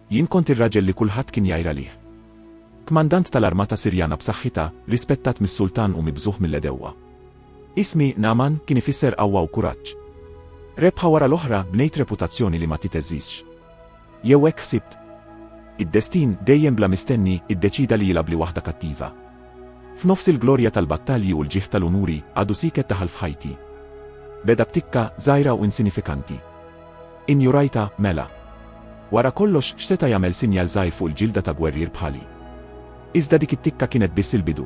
Jien kont ir-raġel li kulħadd kien jgħir għalih. Kmandant tal-armata Sirjana b'saħħitha, rispettat mis-sultan u mibżugħ mill-għedewwa. Ismi, Nagħman, kien ifisser qawwa u kuraġġ. Rebħa wara l-oħra, bnejt reputazzjoni li ma titeżżiżx. Jew hekk ħsibt. Id-destin, dejjem bla mistenni, iddeċieda li jilgħabli waħda kattiva. F'nofs il-glorja tal-battalji u l-ġieħ tal-unuri, għadu sieket daħal f'ħajti. Beda b'tikka, żgħira u insinifikanti. Injorajtha, mela. Wara kollox x'seta' jagħmel sinjal żgħir fuq il-ġilda ta' gwerrier bħali? Iżda dik it-tikka kienet biss il-bidu.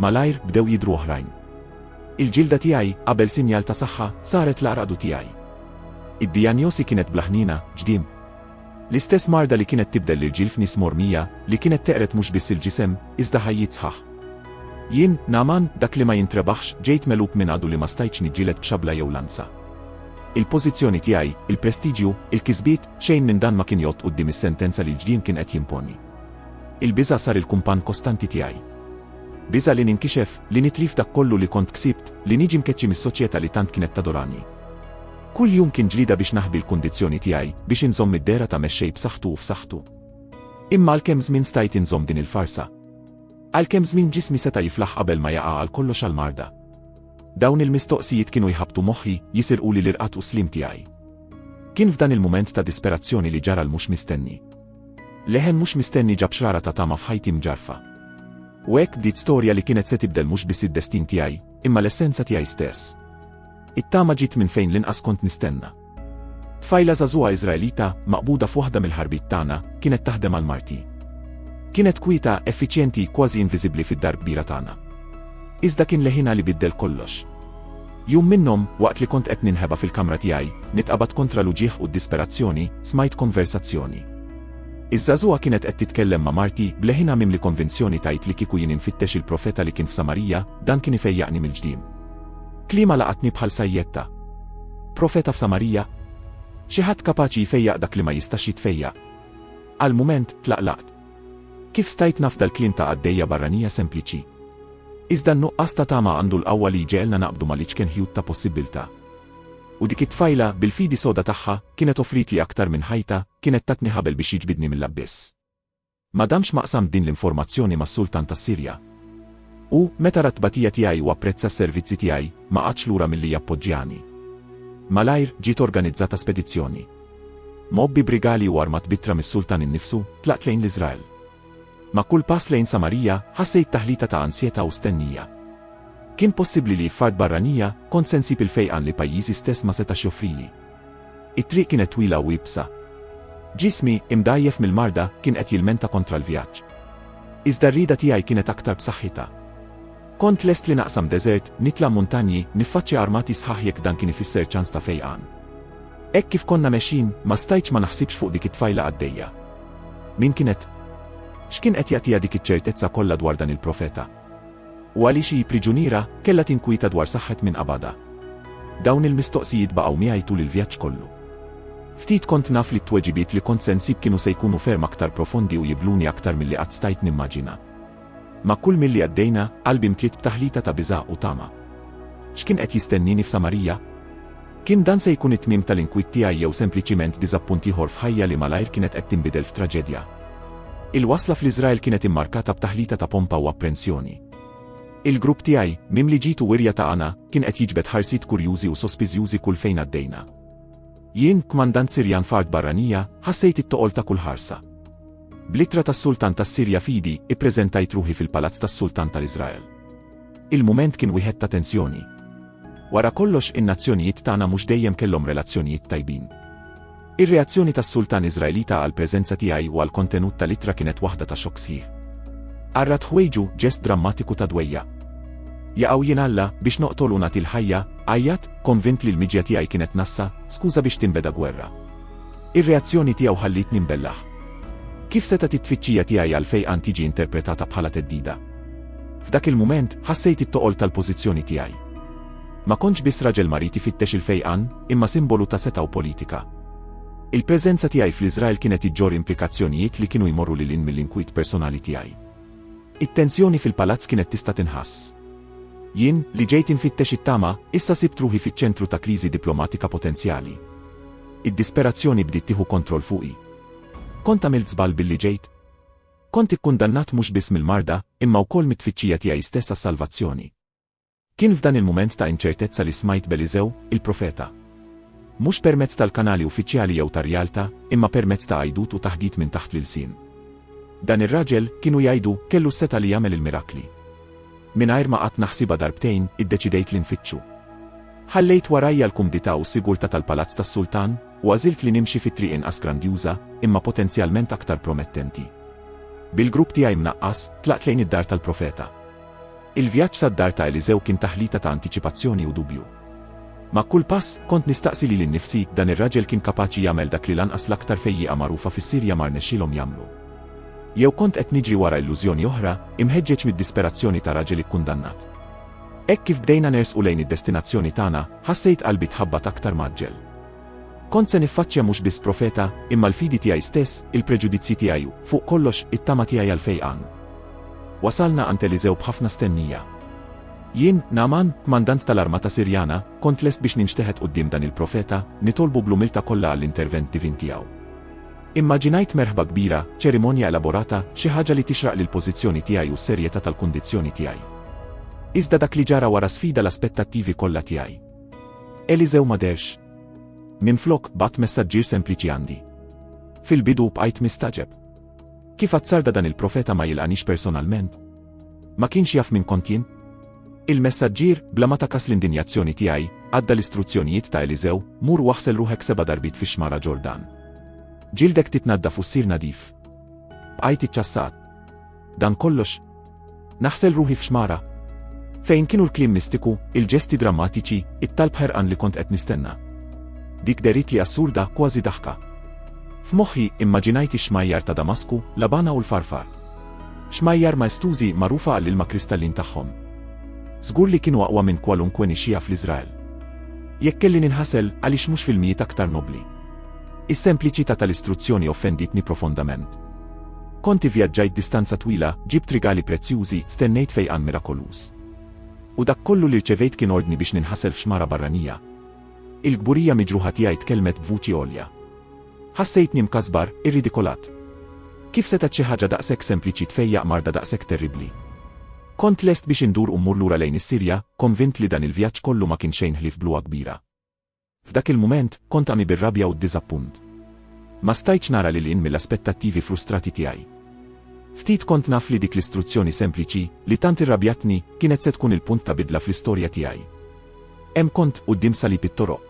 Malajr bdew jidhru oħrajn. Il-ġilda tiegħi, qabel sinjal ta' saħħa, saret l-għaraqdu tiegħi. Id-dijanjosi kienet bla ħniena, ġdiem. L-istess marda li kienet tibdel l-irġiel f'nies mormija, li kienet teqred mhux biss il-ġisem, iżda ħajjiet sħaħ. Jien, Nagħman, dak li ma jintrebaħx, ġejt megħlub minn għadu li ma stajtx niġġieled b'xabla jew lanza. Il-pożizzjoni tiegħi, il-prestiġju, il-kisbiet, xejn minn dan ma kien jgħodd quddiem is-sentenza li l-ġdien kien qed jimponi. Il-biża' sar il-kumpann kostanti tiegħi. Biża' li ninkixef, li nitlif dak kollu li kont ksibt, li niġi mkeċċi mis-soċjetà li tant kienet tadorani. Kull jum kien ġlieda biex naħbi l-kundizzjoni tiegħi biex inżomm id-dehra ta' mexxej b'saħħtu u f'saħħtu. Imma għalkemm żmien stajt inżomm din il-farsa. Għalkemm żmien ġismi seta' jiflaħ qabel ma jaqa' għal kollox għall-marda. Dawn il-mistoqsijiet kienu jħabbtu moħħi, jisirquli l-irqad u s-sliem tiegħi. Kien f'dan il-mument ta' disperazzjoni li ġara l-mhux mistenni. Leħen mhux mistenni ġab xrara ta' tama f'ħajti mġarfa. U hekk bdiet storja li kienet se tibdel mhux biss id-destin tiegħi, imma l-essenza tiegħi stess. It-tama ġiet minn fejn l-inqas kont nistenna. Tfajla żagħżugħa Iżraelita, maqbuda f'waħda mill-ħarbiet tagħna, kienet taħdem għal marti. Kienet kwieta, effiċjenti, kważi inviżibbli fid-dar kbira tagħna. Iżda kien leħinha li biddel kollox. Jum minnhom, waqt li kont qed ninħeba fil-kamra tiegħi, nitqabad kontra l-uġigħ u d-disperazzjoni, smajt konversazzjoni. Iż-żagħżugħa kienet qed titkellem ma' marti bleħina mimli konvinzjoni tajt li kieku jien infittex il-profeta li kien f'Samarija, dan kien ifejjaqni mill-ġdiem. Kliema laqatni bħal sajjetta. Profeta f'Samarija? Xi ħadd kapaċi jfejjaq dak li ma jistax jitfejjaq? Għal mument, tlaqlaqt. Kif stajt nafda l-kliem ta' qaddejja barranija sempliċi? Iżda n-nuqqas ta' tama għandu l-qawwa li jġegħelna naqbdu mal-iċken ħjut ta' possibbiltà. U dik it-tfajla, bil-fidi soda tagħha, kienet offritli aktar minn ħajta, kienet tatni ħabel biex jiġbidni mill-abbiss. Ma damx ma qsamt din l-informazzjoni mas-Sultan tas-Sirja. Hu, meta ra t-tbatija tiegħi u apprezza s-servizzi tiegħi, ma qagħadx lura milli jappoġġjani. Malajr, ġiet organizzata spedizzjoni. Mgħobbi b'rigali u armat b'ittra mis-Sultan innifsu, tlaqt lejn l-Iżrael. Ma' kull pass lejn Samarija, ħassejt taħlita ta' ansjetà u stennija. Kien possibbli li f'art barranija, kont se nsib il-fejqan li pajjiżi stess ma setax joffrili. It-triq kienet twila u iebsa. Ġismi, imdgħajjef mill-marda, kien qed jilmenta kontra l-vjaġġ. Iżda r-rieda tiegħi kienet aktar b'saħħitha. Kont lest li naqsam deżert, nitla' muntanji, niffaċċja armati sħaħ jekk dan kien ifisser ċans ta' fejqan. Hekk kif konna mexjin, ma stajtx ma naħsibx fuq dik it-tfajla qaddejja. Min kienet? X'kien qed jagħtiha dik iċ-ċertezza kollha dwar dan il-profeta? U għaliex hi priġuniera, kellha tinkwieta dwar saħħet min qabadha? Dawn il-mistoqsijiet baqgħu miegħi tul il-vjaġġ kollu. Ftit kont naf li t-tweġibiet li kont se nsib kienu se jkunu ferm aktar profondi u jibhluni aktar milli qatt stajt nimmaġina. Ma' kull milli għaddejna, qalbi mtliet b'taħlita ta' biża' u tama. X'kien qed jistennieni f'Samarija? Kien dan se jkun it-tmiem tal-inkwiet tiegħi jew sempliċiment diżappunt ieħor f'ħajja li malajr kienet qed tinbidel f'traġedja? Il-wasla fl-Iżrael kienet immarkata b'taħlita ta' pompa u apprensjoni. Il-grupp tiegħi, mimli ġid u wirja ta' għana, kien qed jiġbed ħarsiet kurjużi u sospiżjużi kull fejn għaddejna. Jien, kmandant Sirjan f'art barranija, ħassejt it-toqol ta' kull ħarsa. Bl-ittra tas-Sultan tas-Sirja f'idi, ippreżentajt ruħi fil-palazz tas-Sultan tal-Iżrael. Il-mument kien wieħed ta' tensjoni. Wara kollox in-nazzjonijiet tagħna mhux dejjem kellhom relazzjonijiet tajbin. Ir-reazzjoni tas-sultan Iżraelita għall-preżenza tiegħi u għall-kontenut tal-ittra kienet waħda ta' xokk sħiħ. Qarrat ħwejġu, ġest drammatiku ta' dwejjaq. Jaqgħu jien Alla biex noqtol u nagħti l-ħajja, għajjat, konvint li l-miġja tiegħi kienet nassa, skuża biex tinbeda gwerra. Ir-reazzjoni tiegħu ħallietni mbellaħ. Kif setgħet it-tfittxija tiegħi għal fejqan tiġi interpretata bħala theddida? F'dak il-mument, ħassejt it-toqol tal-pożizzjoni tiegħi. Ma kontx biss raġel marid ifittex il-fejqan, imma simbolu ta' setgħa u politika. Il-preżenza tiegħi fl-Iżrael kienet iġġorr implikazzjonijiet li kienu jmorru lil hinn mill-inkwiet personali tiegħi. It-tensjoni fil-palazz kienet tista' tinħass. Jien, li ġejt infittex it-tama, issa sibt ruħi fiċ-ċentru ta' kriżi diplomatika potenzjali. Id-disperazzjoni bdiet tieħu kontroll fuqi. Kont għamilt żball billi ġejt? Kont ikkundannat mhux biss mill-marda, imma wkoll mit-tfittxija tiegħi stess għas-salvazzjoni. Kien f'dan il-mument ta' inċertezza li smajt b'Eliżew, il-profeta. Mhux permezz tal-kanali uffiċjali jew ta' rjalta, imma permezz ta' għajdut u taħdit minn taħt l-ilsien. Dan ir-raġel, kienu jgħidu, kellu s-setgħa li jagħmel il-mirakli. Mingħajr ma qatt naħsibha darbtejn, iddeċidejt li nfittxu. Ħallejt warajja l-kumdità u s-sigurtà tal-palazz tas-sultan, u għażilt li nimxi fi triq inqas grandjuża, imma potenzjalment aktar promettenti. Bil-grupp tiegħi mnaqqas, tlaqt lejn id-dar tal-profeta. Il-vjaġġ sad-dar ta' Eliżew kien taħlita ta' antiċipazzjoni u dubju. Ma' kull pass, kont nistaqsi lili nnifsi, dan ir-raġel kien kapaċi jagħmel dak li lanqas l-aktar fejjieqa magħrufa fis-Sirja ma rnexxielhom jagħmlu? Jew kont qed niġri wara illużjoni oħra, imħeġġeġ mid-disperazzjoni ta' raġel ikkundannat? Hekk kif bdejna nersqu lejn id-destinazzjoni tagħna, ħassejt qalbi tħabbat aktar mgħaġġel. Kont se niffaċċja mhux biss profeta, imma l-fidi tiegħi stess, il-preġudizzji tiegħi u, fuq kollox, it-tama tiegħi għall-fejqan. Wasalna għand Eliżew b'ħafna stennija. Jien, Nagħman, kmandant tal-armata Sirjana, kont lest biex ninxteħet quddiem dan il-profeta, nitolbu bl-umiltà kollha għall-intervent divin tiegħu. Immaġinajt merħba kbira, ċerimonja elaborata, xi ħaġa li tixraq lill-pożizzjoni tiegħi u s-serjetà tal-kundizzjoni tiegħi. Iżda dak li ġara wara sfida l-aspettattivi kollha tiegħi. Eliżew ma derx. Minflok, bgħatt messaġġier sempliċi għandi. Fil-bidu bqajt mistagħġeb. Kif azzarda dan il-profeta ma jilqanix personalment? Ma kienx jaf min kont jien? Il-messaġġier, bla ma takas l-indinjazzjoni tiegħi, għadda l-istruzzjonijiet ta' Eliżew, mur waħsel ruħek seba' darbit fix-xmara Ġordan. Ġildek titnadda fussir nadif. Bqajt iċċassat. Dan kollox? Naħsel ruħi f'xmara. Fejn kienu l-kliem mistiku, il-ġesti drammatiċi, it-talb ħerqan li kont qed nistenna. Dik derit li assurda kważi daħka. F'moħħi immaġinajt ix-xmajjar ta' Damasku, Labana u l-Farfar. Xmajjar maestużi magħrufa għall-ilma kristallin tagħhom. Żgur li kienu aqwa minn kwalunkwe nixxija fl-Iżrael. Jekk kelli ninħasel għaliex mhux filmijiet aktar nobli. Is-sempliċità tal-istruzzjoni offenditni profondament. Kont ivvjaġġajt distanza twila, ġibt rigali prezzjużi, stennejt fejqan mirakoluż. U dak kollu li rċevejt kien ordni biex ninħasel f'xmara barranija. Il-kburija miġruħa tiegħi tkellmet b'vuċi għolja. Ħassejtni mkasbar, irridikolat. Kif setgħet xi ħaġa daqshekk sempliċi tfejjaq marda daqshekk terribbli? Kont lest biex indur u mmur lura lejn is-Sirja, konvint li dan il-vjaġġ kollu ma kien xejn ħlief bluha kbira. F'dak il-mument, kont għami bir-rabja u d-diżappunt. Ma stajtx nara lil hinn mill-aspettattivi frustrati tiegħi. Ftit kont naf li dik l-istruzzjoni sempliċi, li tant irrabjatni, kienet se tkun il-punt ta' bidla fl-istorja tiegħi. Hemm kont, quddiem salib it-toroq.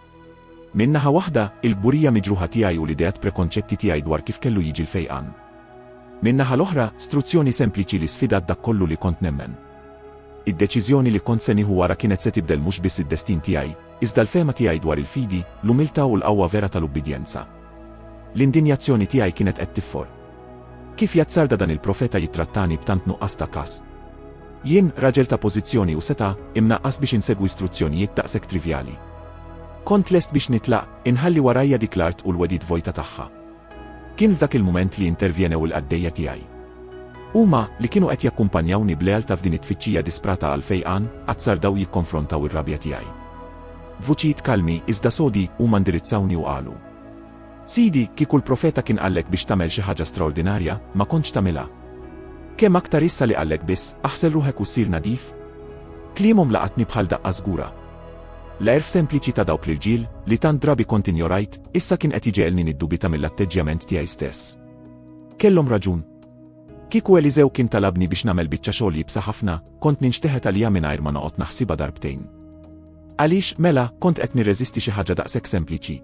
Minn naħa waħda, il-kburija miġruħa tiegħi u l-ideat prekonċetti tiegħi dwar kif kellu jiġi l-fejqan. Min-naħa l-oħra, struzzjoni sempliċi li sfidat dak kollu li kont nemmen. Id-deċiżjoni li kont se nieħu wara kienet se tibdel mhux biss id-destin tiegħi, Iżda l-fehma tiegħi dwar il-fidi, l-umiltà u l-qawwa vera tal-ubbidjenza. L-indinjazzjoni tiegħi kienet qed tiffor. Kif jazzarda dan il-profeta jittrattani b'tant nuqqas ta' kast? Jien, raġel ta' pożizzjoni u setgħa, imnaqqas biex insegwi struzzjonijiet daqshekk trivjali. Kont lest biex nitlaq, inħalli warajja dik l-art u l-wegħdiet vojta tagħha. Kien f'dak il-mument li intervjenew il-qaddejja tiegħi. Huma, li kienu qed jakkumpanjawni b'lealtà f'din it-tfittxija disprata għall-fejqan, azzardaw jikkonfrontaw ir-rabja tiegħi. B'vuċijiet kalmi, iżda sodi, huma indirizzawni u qalu, Sidi, kieku l-profeta kien qallek biex tagħmel xi ħaġa straordinarja, ma kontx tagħmilha. Kemm aktar issa li qallek biss, aħsel ruħek u ssir nadif? Kliemhom laqatni bħal daqqa żgura. L-għerf sempliċi ta' dawk l-irġiel, li tant drabi kont injorajt, issa kien qed jġegħelni niddubita mill-atteġġjament tiegħi stess. Kellhom raġun. Kieku Eliżew kien talabni biex nagħmel biċċa xogħol iebsa ħafna, kont ninxteħet għaliha mingħajr ma noqgħod naħsibha darbtejn. Għaliex, mela, kont qed nirreżisti xi ħaġa daqshekk sempliċi?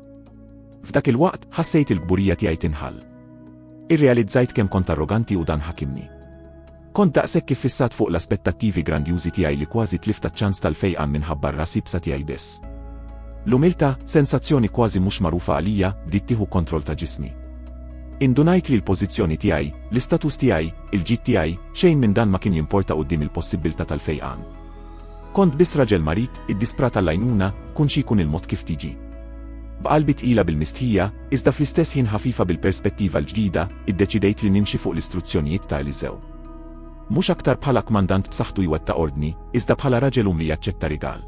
F'dak il-waqt, ħassejt il-kburija tiegħi tinħall. Irrealizzajt kemm kont arroganti u dan ħakimni. Kont daqshekk iffissat fuq l-aspettattivi grandjużi tiegħi li kważi tlift taċ-ċans tal-fejqan minħabba r-ras ibsa tiegħi biss. L-umiltà, sensazzjoni kważi mhux magħrufa għalija, bdiet tieħu kontroll ta' ġismi. Indunajt li l-pożizzjoni tiegħi, l-istatus tiegħi, il-ġid tiegħi, xejn minn dan ma kien jimporta quddiem il-possibbiltà tal-fejqan. Kont biss raġel marid, iddisprat għall-għajnuna, kun xi jkun il-mod kif tiġi. B'qalbi tqila bil-mistħija, iżda fl-istess ħin ħafifa bil-perspettiva l-ġdida, iddeċidejt li nimxi fuq l-istruzzjonijiet ta' Eliżew. Mhux aktar bħala kmandant b'saħħtu jwettaq ordni, iżda bħala raġel umli jaċċetta rigal.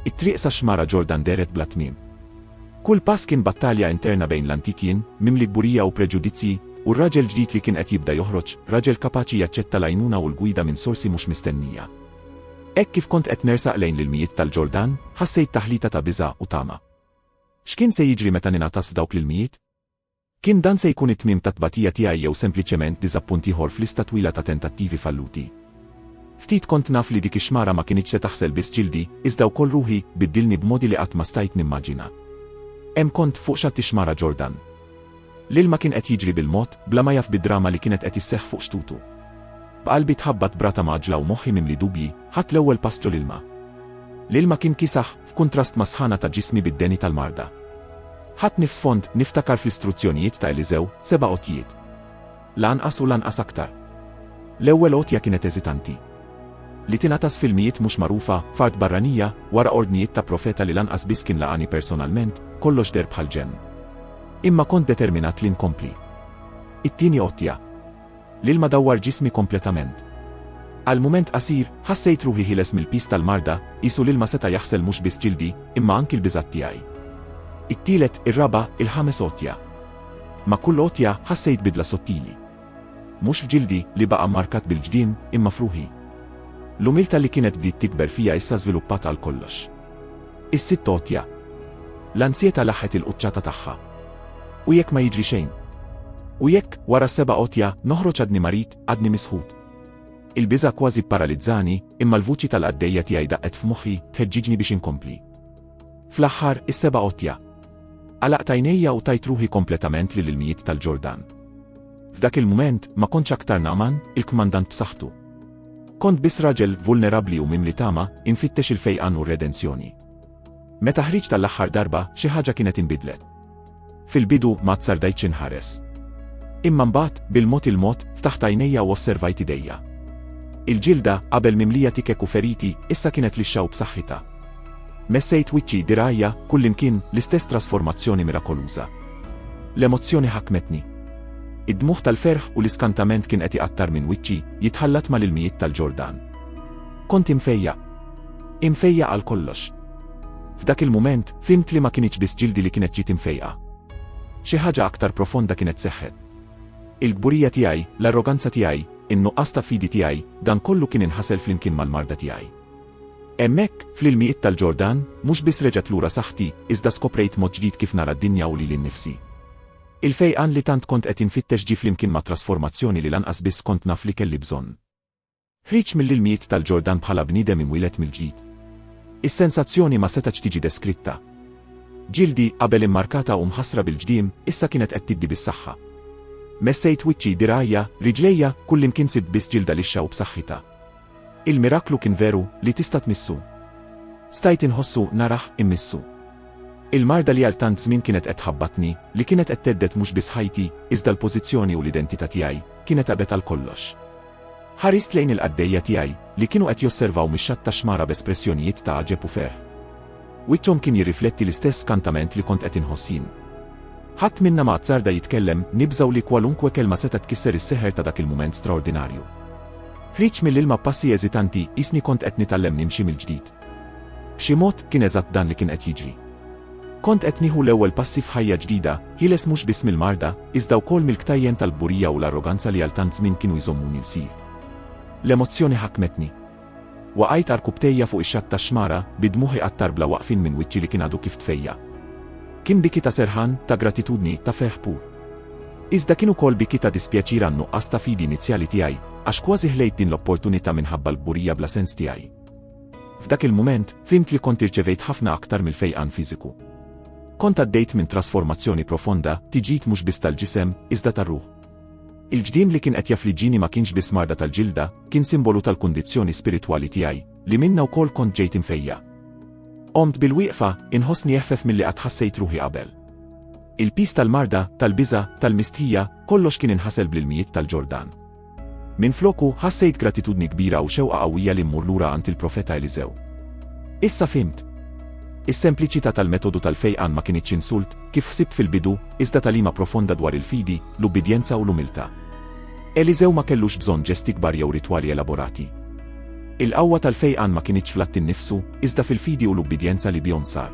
It-triq sax-xmara Ġordan dehret bla tmiem. Kull pass kien battalja interna bejn l-antik jien, mimli kburija u preġudizzji, u r-raġel ġdid li kien qed jibda joħroġ, raġel kapaċi jaċċetta l-għajnuna u l-gwida minn sorsi mhux mistennija. Hekk kif kont qed nersaq lejn l-ilmijiet tal-Ġordan, ħassejt taħlita ta' biża' u tama. X'kien se jiġri meta ningħatas f'dawk l-ilmijiet? Kien dan se jkun it-tmiem tat-tbatija tiegħi jew sempliċement diżappunt ieħor f'lista twila ta' tentattivi falluti? Ftit kont naf li dik ix-xmara ma kinitx se taħsel biss ġildi, iżda wkoll ruħi, biddilni b'modi li qatt ma stajt nimmaġina. Hemm kont, fuq xatt ix-xmara Ġordan. L-ilma kien qed jiġri bil-mod, bla ma jaf bid-drama li kienet qed isseħħ fuq xtutu. B'qalbi tħabbat b'rata mgħaġġla u moħħi mimli dubji, ħadt l-ewwel pass ġol-ilma. L-ilma kien kiesaħ, f'kuntrast mas-sħana ta' ġismi bid-deni tal-marda. Ħadt nifs fond, niftakar fl-istruzzjonijiet ta' Eliżew, seba' għotjiet. Lanqas u lanqas aktar. L-ewwel għotja kienet eżitanti. Li tingħatas f'ilmijiet mhux magħrufa, f'art barranija, wara ordnijiet ta' profeta li lanqas biss kien laqani personalment, kollox deher bħal ġenn. Imma kont determinat li nkompli. It-tieni għotja. L-ilma dawwar ġismi kompletament. Għal mument qasir, ħassejt ruħi ħieles mill-piż tal-marda, qisu l-ilma seta' jaħsel mhux biss ġildi, imma anki l-biżgħat tiegħi. It-tielet, ir-raba', il-ħames għotja. Ma' kull għotja ħassejt bidla sottili. Mhux f'ġildi, li baqa' mmarkat bil-ġdien, imma f'ruħi. L-umiltà li kienet bdiet tikber fija issa żviluppat għal kollox. Is-sitt għotja. L-ansjetà laħħet il-quċċata tagħha. U jekk ma jiġri xejn? U jekk, wara s-seba' għotja, noħroġ għadni marid, għadni misħut? Il-biża' kważi pparalizzani, imma l-vuċi tal-qaddejja tiegħi daqqet f'moħħi, tħeġġiġni biex inkompli. Fl-aħħar, is-seba' għotja. Għalaqt għajnejja u tajt ruħi kompletament lil ilmijiet tal-Ġordan. F'dak il-mument, ma kontx aktar Nagħman, il-kmandant b'saħħtu. Kont biss raġel vulnerabbli u mimli tama, infittex il-fejqan u r-redenzjoni. Meta ħriġt tal-aħħar darba, xi ħaġa kienet inbidlet. Fil-bidu ma tsardajtx inħares. Imma mbagħad, bil-mod il-mod, ftaħt għajnejja u osservajt idejja. Il-ġilda, qabel mimlija tikek u feriti, issa kienet lixxa u b'saħħitha. Messejt wiċċi, dirgħajja, kullimkien, l-istess trasformazzjoni mirakoluża. L-emozzjoni ħakmetni. Id-dmugħ tal-ferħ u l-iskantament kien qed iqattar minn wiċċi, jitħallat mal-ilmijiet tal-Ġordan. Kont imfejjaq. Imfejjaq għal kollox. F'dak il-mument, fhimt li ma kinitx biss ġildi li kienet ġiet imfejqa. Xi ħaġa aktar profonda kienet seħħet. Il-kburija tiegħi, l-arroganza tiegħi, in-nuqqas ta' fidi tiegħi, dan kollu kien inħasel flimkien mal-marda tiegħi. Hemmhekk, fl-ilmijiet tal-Ġordan, mhux biss reġgħet lura saħħti, iżda skoprejt mod ġdid kif nara d-dinja u lili nnifsi. Il-fejqan li tant kont qed infittex ġie flimkien ma' trasformazzjoni li lanqas biss kont naf li kelli bżonn. Ħriġt mill-ilmijiet tal-Ġordan bħala bniedem imwieled mill-ġdid. Is-sensazzjoni ma setgħetx tiġi deskritta. Ġildi, qabel immarkata u mħassra bil-ġdiem, issa kienet qed tiddi bis-saħħa. Messejt wiċċi, dirgħajja, riġlejja, kullimkien sibt biss ġilda lixxa u b'saħħitha. Il-miraklu kien veru li tista' tmissu. Stajt inħossu, narah, immissu. Il-marda li għal tant żmien kienet qed tħabbatni, li kienet qed thedded mhux biss ħajti, iżda l-pożizzjoni u l-identità tiegħi, kienet għabet għal kollox. Ħarist lejn il-qaddejja tiegħi, li kienu qed josservaw mix-xatt tax-xmara b'espressjonijiet ta' għaġeb u ferħ. Wiċċhom kien jirrifletti l-istess skantament li kont qed inħoss jien. Ħadd minna ma azzarda jitkellem, nibżgħu li kwalunkwe kelma setgħet tkisser is-seħer ta' dak il-mument straordinarju. Ħriġt mill-ilma b'passi eżitanti, qisni kont qed nitgħallem nimxi mill-ġdid. B'xi mod, kien eżatt dan li kien qed jiġri. Kont qed nieħu l-ewwel passi f'ħajja ġdida, ħieles mhux biss mill-marda, iżda wkoll mill-ktajjen tal-kburija u l-arroganza li għal tant żmien kienu jżommuni lsir. L-emozzjoni ħakmetni. Waqajt għal rkubtejja fuq ix-xatt tax-xmara, bi dmugħi għat-tarbla waqfin minn wiċċi li kien għadu kif tfejjaq. Kien biki ta' serħan, ta' gratitudni, ta' ferħ pur. Iżda kien ukoll biki ta' dispjaċir għan-nuqqas ta' fidi inizjali tiegħi, għax kważi ħlejt din l-opportunità minħabba l-kburija bla sens tiegħi. F'dak il-mument, fhimt li kont irċevejt ħafna aktar mill-fejqan fiżiku. Kont għaddejt minn trasformazzjoni profonda, tiġid mhux biss tal-ġisem, iżda tar-ruħ. Il-ġdiem li kien qed jaffliġġini ma kienx biss marda tal-ġilda, kien simbolu tal-kundizzjoni spiritwali tiegħi, li minnha wkoll kont ġejt imfejjaq. Qomt bil-wieqfa, inħossni eħfef milli qatt ħassejt ruħi qabel. Il-piż tal-marda, tal-biża', tal-mistħija, kollox kien inħasel bl-ilmijiet tal-Ġordan. Minfloku, ħassejt gratitudni kbira u xewqa qawwija li mmur lura għand il-profeta Eliżew. Issa fhimt. Is-sempliċità tal-metodu tal-fejqan ma kinitx insult, kif ħsibt fil-bidu, iżda tagħlima profonda dwar il-fidi, l-ubbidjenza u l-umiltà. Eliżew ma kellux bżonn ġesti kbar jew ritwali elaborati. Il-qawwa tal-fejqan ma kinitx fl-att innifsu, iżda fil-fidi u l-ubbidjenza li bihom sar.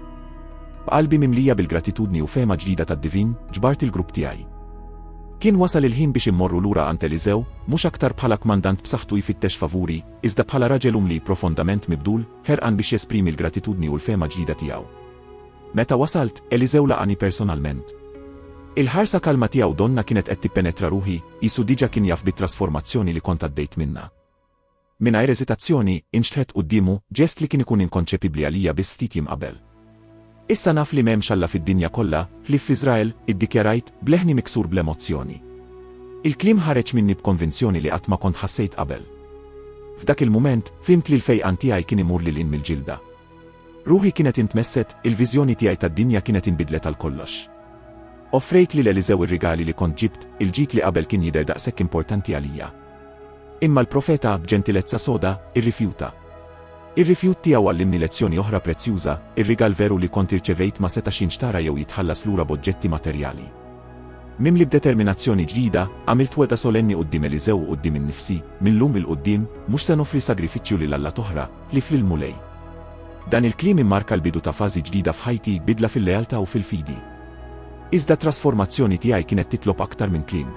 B'qalbi mimlija bil-gratitudni u fehma ġdida tad-divin, ġbart il-grupp tiegħi. Kien wasal il-ħin biex immorru lura għand Eliżew, mhux aktar bħala kmandant b'saħħtu jfittex favuri, iżda bħala raġel umli profondament mibdul, ħerqan biex jesprimi l-gratitudni u l-fehma ġdida tiegħu. Meta wasalt, Eliżew laqani personalment. Il-ħarsa kalma tiegħu donna kienet qed tippenetra ruħi, qisu diġà kien jaf bit-trasformazzjoni li kont għaddejt minnha. Mingħajr eżitazzjoni, inxtħet quddiemu, ġest li kien ikun inkonċepibbli għalija biss ftit jiem qabel. Issa naf li m'hemmx Alla fid-dinja kollha, ħlief f'Iżrael, iddikjarajt, b'leħni miksur bl-emozzjoni. Il-kliem ħareġ minni b'konvinzjoni li qatt ma kont ħassejt qabel. F'dak il-mument, fhimt li l-fejqan tiegħi kien imur lil hinn mill-ġilda. Ruħi kienet intmesset, il-viżjoni tiegħi tad-dinja kienet inbidlet għal kollox. Offrejt lil Eliżew ir-rigali li kont ġibt, il-ġid li qabel kien jidher daqshekk importanti għalija. Imma l-profeta, b'ġentilezza soda, irrifjuta. Ir-rifjut tiegħu għallimni lezzjoni oħra prezzjuża, ir-rigal veru li kont irċevejt ma setax jinxtara jew jitħallas lura b'oġġetti materjali. Mimli b'determinazzjoni ġdida, għamilt wegħda solenni quddiem Eliżew u quddiem innifsi, minn llum 'il quddiem, mhux se noffri sagrifiċċju lil alla t'oħra, Lif lill-Mulej. Dan il-kliem immarka l-bidu ta' fażi ġdida f'ħajti, bidla fil-lealtà u fil-fidi. Iżda t-trasformazzjoni tiegħi kienet titlob aktar minn kliem.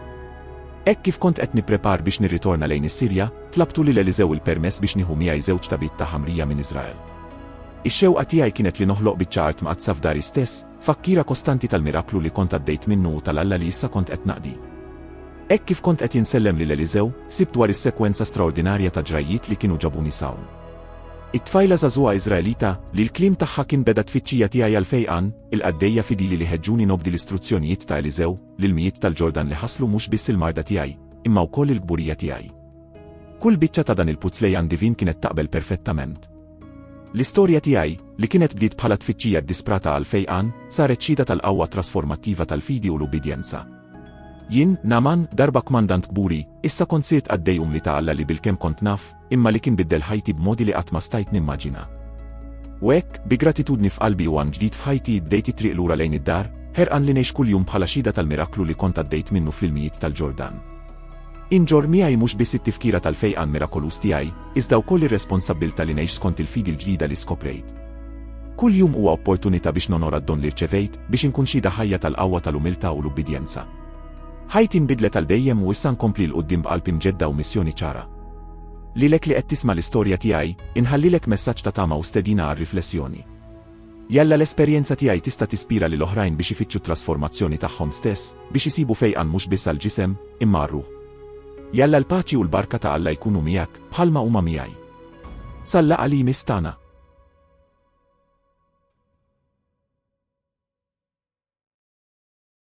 Hekk kif kont qed nipprepar biex nirritorna lejn is-Sirja, tlabtu lil Eliżew il-permess biex nieħu miegħi żewġ tabiet ta' ħamrija minn Iżrael. Ix-xewqa tiegħi kienet li noħloq biċċa art mqaddsa f'dari stess, Fakkira kostanti tal-miraklu li kont għaddejt minnu u tal-Alla li issa kont qed naqdi. Hekk kif kont qed insellem lil Eliżew, sibt dwar is-sekwenza straordinarja ta' ġrajjiet li kienu ġabuni s'hawn. It-tfajla żagħżugħa Iżraelita, li l-kliem tagħha kien beda t-tfittxija tiegħi għall-fejqan, il-qaddejja fidili li ħeġġuni nobdi l-istruzzjonijiet ta' Eliżew, l-ilmijiet tal-Ġordan li ħasslu mhux biss il-marda tiegħi, imma wkoll il-kburija tiegħi. Kull biċċa ta' dan il-puzzle jan divin kienet taqbel perfettament. L-istorja tiegħi, li kienet bdiet bħala tfittxija ddisprata għall-fejqan, saret xhieda tal-qawwa trasformattiva tal-fidi u l-ubbidjenza. Jien, Naaman, darba kmandant kburi, issa kont sirt qaddej umli ta' Alla li bilkemm kont naf, imma li kien biddel ħajti b'modi li qatt ma stajt nimmaġina. U hekk, bi gratitudni f'qalbi u għan ġdid f'ħajti, bdejt it-triq lura lejn id-dar, ħerqan li ngħix kuljum bħala xhieda tal-miraklu li kont għaddejt minnu fl-ilmijiet tal-Ġordan. Inġorr miegħi mhux biss it-tifkira tal-fejqan mirakoluż tiegħi, iżda wkoll ir-responsabbiltà li ngħix skont il-fidi l-ġdida li skoprejt. Kull jum huwa opportunità biex nonora d-don li rċevejt, biex inkun xhieda ħajja tal-qawwa tal-umiltà u l-ubbidjenza. Ħajti nbidlet għal dejjem u issa nkompli 'l quddiem b'qalb imġedda u missjoni ċara. Lilek li qed tisma' l-istorja tiegħi, inħallilek messaġġ ta' tama u stedina għar-riflessjoni. Jalla l-esperjenza tiegħi tista' tispira lil oħrajn biex ifittxu t-trasformazzjoni tagħhom stess, biex isibu fejqan mhux biss għall-ġisem, imma għar-ruħ. Jalla l-paċi u l-barka ta' Alla jkunu miegħek, bħalma huma miegħi. Sal-laqgħa li jmiss tagħna!